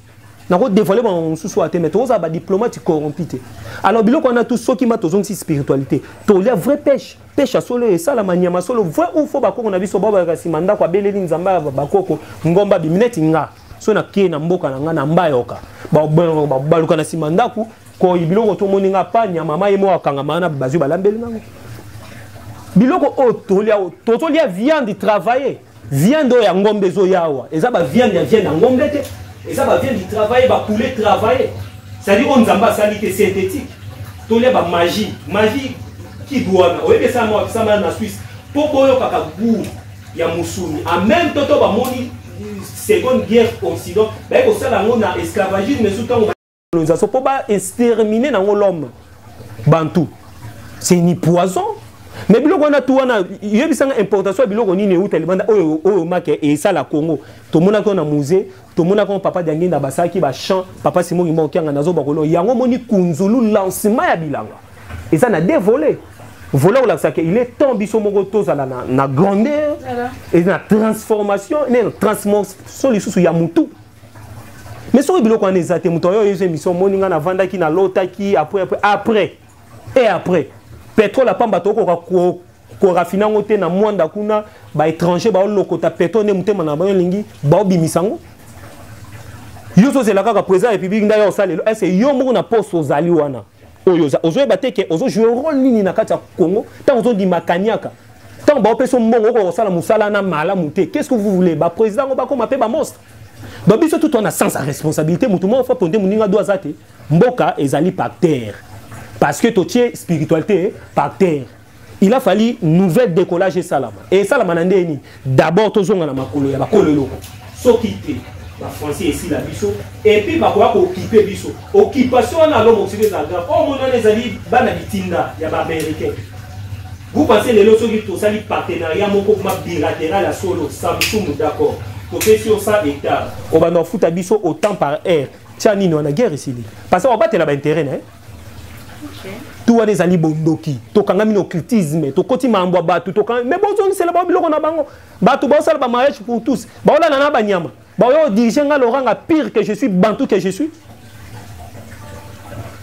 nako dévoile bango mosusu oyo te mais tokozala badiplomate corrompi te alors biloko wana tu soki ma tozongisi spiritualité tolia vrai pêche pêche ya solo esalama nyama solo vrai ou faux bakoko na biso babalaka nsima ndako abeleli nzambe ya bakoko ngomba bimi neti nga so nakei na mboka na ngai na mbayoka babaluka na nsima ndako koi biloko tomoni nga pa nyama ma ye moko akangama wana bazwi balambeli nango biloko oyo tolia tozolia viande travailler Viande oyo ya ngombe ezo yawa. Eza ba viande ya viande ya ngombe te. Eza ba viande travailler ba poulet travailler. Ça dit on nzamba sali te synthétique. Tolia ba magie. Magie qui doit na. Oye ça moi ça na Suisse. Po boyo kaka goût ya musuni. En même temps to ba moni seconde guerre occident. Ba ko sala ngona esclavagisme sous tango colonisation mpo ba extermine nango l'homme bantu c'est ni poison mais biloko wana tu wana yebisanga importation ya biloko nini euta libanda oyo oyo make esala congo tomonaki oyo na musée tomonaki oyo papa diangenda basalaki bachamp papa simoki moko kianga nazo bakolo yango omoni kunzulu lancement ya bilanga eza na deux volets vola kolakisaka il est temps biso moko tozala na, na grandeur eza na transformation na transformation lisusu ya mutu mais soki biloko wana eza te moto ayo oyezo émission omoni ngai navandaki nalotaki après après après et après pétrole apamba tokoka korafine yango te na mwanda kuna baétranger baolokota pétrole nde motema na bango elingi baobimisa yango yo ozozela kaka président ya république ndai osalela ese yo moko na poste ozali wana oyo ozoyeba te ke ozo jouer role nini na kati ya congo ntango ozondima kaniaka ntango baopesi yo mbongo okoka kosala mosala na malamu te qu'est ce que vous voulez baprésident yango bakoma mpe bamonstre donc biso tout wana sans responsabilité motu moko fapo nde moninga do aza te mboka ezali par terre parce que totie spiritualité par terre il a fallu nouvelle décollage esalama e esalama na ndenge nini d'abord tozonga na makolo ya bakolo eloko soki te bafrançais esila biso epuis bakoya kookipe biso occupation wana alo mokili ezala grave oyo moni wana ezali bana bitinda ya baaméricain vous pensez lelo soki tosali partenariat moko kuma bilatéral ya solo samsung d'accord topesi yo sa hectare obanda ofuta biso autant par aire tya nini wana guerre esili parce que obatela baintérêt na ye tu wana ezali bondoki tokangami na occultisme tokoti makambo ya bato tokangami me bozongisela bango biloko na bango bato baosala bamariage pour tous baolala na banyama baoya odirige nga loranga pire que je suis bantu que je suis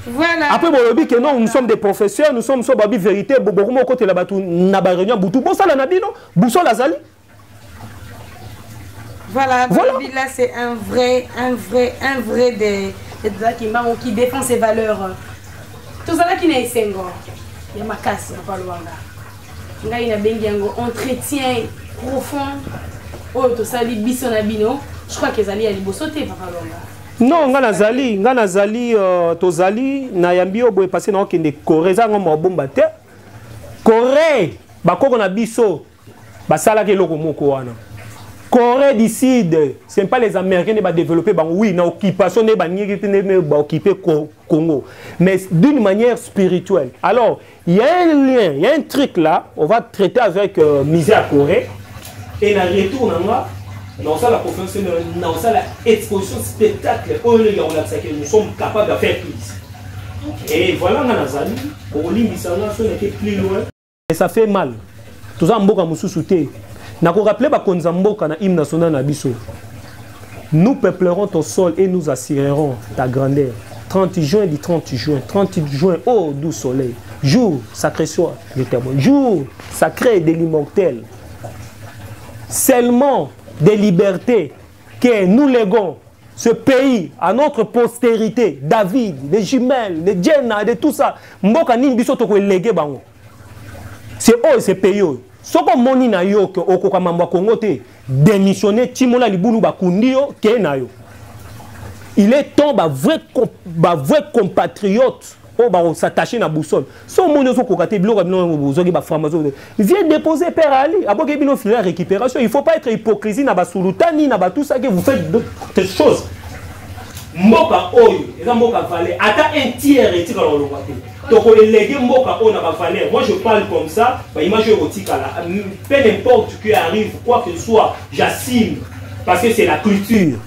Voilà. Après, bon, lobi que non, nous sommes des professeurs, nous sommes sur babi vérité, beaucoup moko te la batu na ba réunion butu. Bon, ça la nabino, boussol azali, Voilà, voilà. là c'est un vrai, un vrai, un vrai des, des Kimbangu qui défend ses valeurs. Tout ça là qui n'est sengo. Il y a ma casse, pas loin là. Nga ina bengi yango entretien profond. Oh, tout ça li biso na bino. Je crois que zali ya liboso te papa longa. non ngai nazali ngai nazali uh, tozali nayambi yo boye pasi naokende corée eza yango mabomba te corée bakoko na biso basalaka eloko moko wana corée du sud ce pas les américains nde badéveloppe bango oui na occupation nde baningaki te nde baoccupe congo mais d'une manière spirituelle alors il y a un lien il y a un truc là on va traiter avec euh, musée ya corée et na retour na nga naosala conférence naosala exposition spectacle oyo ndenge yakolakisaki nous sommes capables de faire plus et voilà nga nazali bokolimbisa nga soki nake plus loin mais ça fait mal toza mboka mususu te na ko rappeler ba konza mboka na hymne national na biso nous peuplerons ton sol et nous assurerons ta grandeur 30 juin du 30 juin 30 juin oh doux soleil jour sacré soit le témoin jour sacré de l'immortel seulement des libertés que nous léguons ce pays à notre postérité, David, les jumelles, les Jenna, de tout ça, mboka nini biso toko elege bango. C'est eux, c'est pays eux. Soko moni na yo que okoka mambo Congo te, démissionner timola libulu bakundi yo ke na yo. Il est temps ba vrai ba vrai compatriote oyo oh, bakosattache na boussole so omoni ozokoka te biloko ya bino yango bozoki baframazo viens déposer père ali aboki bino file ya récupération il faut pas être hypocrisie na basulutani na batusaki vous faites des choses mboka oyo eza mboka valeur ata un tiers etikala kolongwa te tokoelege mboka oyo na bavaleur moi je parle comme ça baimage oyo ekotikala peu n'importe que arrive quoi que soit j'assume parce que c'est la culture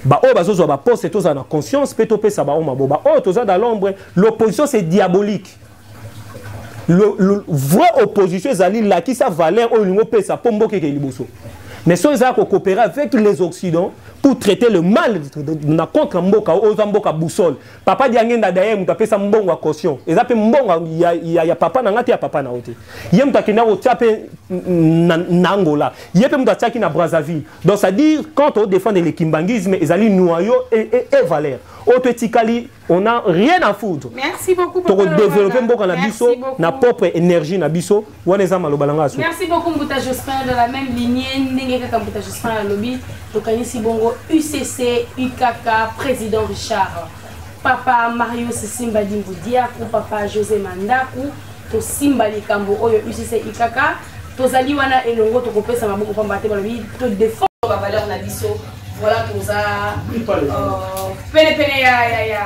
baoyo bazozwa baposte tozala na conscience mpe topesa bango mabo baoyo toza na l'ombre l'opposition c'est diabolique le, le vrai opposition ezali lakisa valeur oyo olingi opesa mpo mboka ekei liboso mais soki ezala kokopere avec les occidents pour traiter le mal na contre mboka oyo oza mboka boussole papa diangenda daye moto apesa mbongo ya caution eza mpe mbongo ya, ya, ya papa na ngai te ya papa na yo te ye moto akenda kotya mpe na angola ye mpe moto atyaki na brazzaville Donc ça dit quand on défend le kimbanguisme, ils allaient noyau et, et, et valeur. Auto etikali, on n'a rien à foutre. Merci beaucoup pour le développer mboka na biso, na propre énergie na biso, wana za maloba langa so. Merci beaucoup Mbuta Jospin dans la même lignée ndenge kaka Mbuta Jospin la lobby, tokanisi bongo UCC, UKK, président Richard. Papa Mario Sisimba Dimbudia, papa José Mandaku, tosimba likambo oyo UCC UKK tozali wana elongo tokopesa maboko pamba te balobi to defendre ba valeur na biso voilà toza euh, pene pene ya ya ya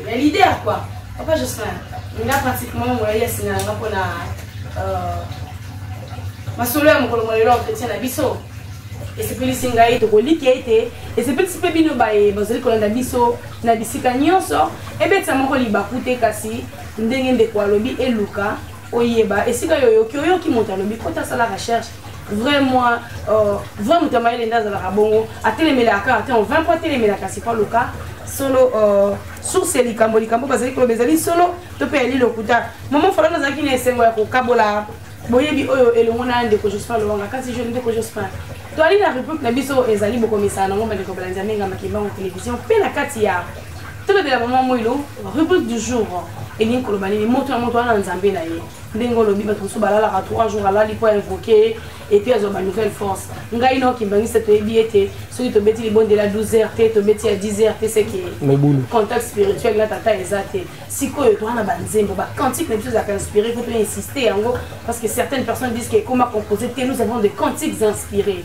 ya leader quoi papa Jocelyn nga pratiquement molai ya singa nga mpona euh, masolo ya mokolo molelo entretien na biso esepelisi ngai tokoliki ete esepelisi mpe bino baye bazali kolanda biso na bisika nyonso ebetisa moko libaku te kasi ndenge ndeko alobi eluka oyeba esika yo oyoki oyoki moto alobi kota asala recherche vrai moi euh, vrai moto ya mayele nde azalaka bongo atelemelaka ata en 20 po atelemelaka sipa luka solo euh, source ya likambo likambo bazali koloba ezali solo to mpe yali lokuta mama falana azalaki na esengo ya kokabola boyebi oyo elongo na ndeko jospin lowanga kasi je ndeko jospin toali na rubrique na biso ezali bokomisana nango bandeko balandi ya menga makimbango television mpe na kati ya tolobela mama moilo rubrique du jour elingi koloba nini moto na moto wana na nzambe na ye ndenge olobi bato mosusu balalaka 3 jours alali mpo invoke ye epuis azwa ba nouvelle force ngai na okimbangisa toyebi ete soki tobeti libondela 12 heures te tobeti ya 10 heures te seke contact spirituel na tata eza te sikoyo toa na banzembo bacantique na biso ezalaka inspiré po toinsiste yango parce que certaines personnes disent que ekoma composé te nous avons des cantiques inspirés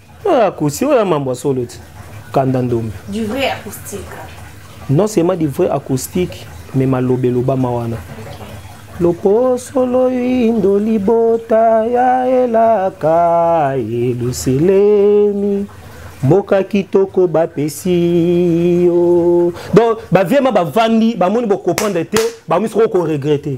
oyo akusi oyo mambo ya solo ti kanda ndombe du vrai acoustique non seulement du vrai acoustique mais maloba elobama wana loposo loyindo libota ya elaka yeluselemi mboka kitoko bapesi yo donc baviema bavandi bamoni bokomprendre te bakomi soko koregrete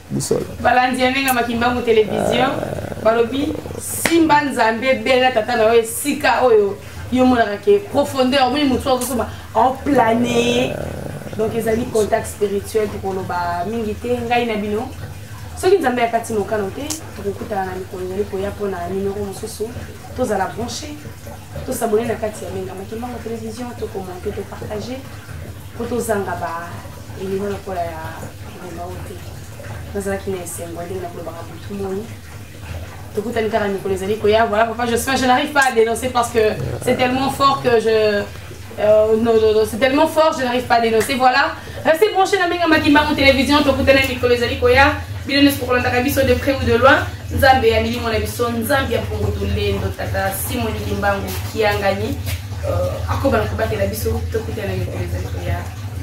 bosolo balandi ya ndenge makimbangu television ah. balobi simba nzambe bela tata na yo esika oyo yo omonaka ke profondeur omoni motu azosoba aoplane ah. donc ezali contact spirituel tokoloba mingi te ngai na bino soki nzambe akati mokano te tokokutana na mikolo ezali koya mpona nimero mosusu tozala branche tosabone na kati ya menga makimbango télévision tokomonte topartage mpo tozanga ba elimo lokola ya nazalaki na esengo ndenge nakolobaka butu moi tokutani kaka mikolo ezali koya voilà papa josphin je n'arrive pas à dénoncer parce que c'est tellement fort que je euh, non, non, non, c'est tellement fort je n'arrive pas à dénoncer voilà restez branché na benga makimbango télévision tokutani mikolo ezali koya bino nyonso kokolandaka biso de près ou de loin nzambe ya milimo na biso nzambe ya mpongo tolendo tata simoni kimbangu kiangani euh, akoba na kobatela biso tokutana mikolo ezali koya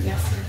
merci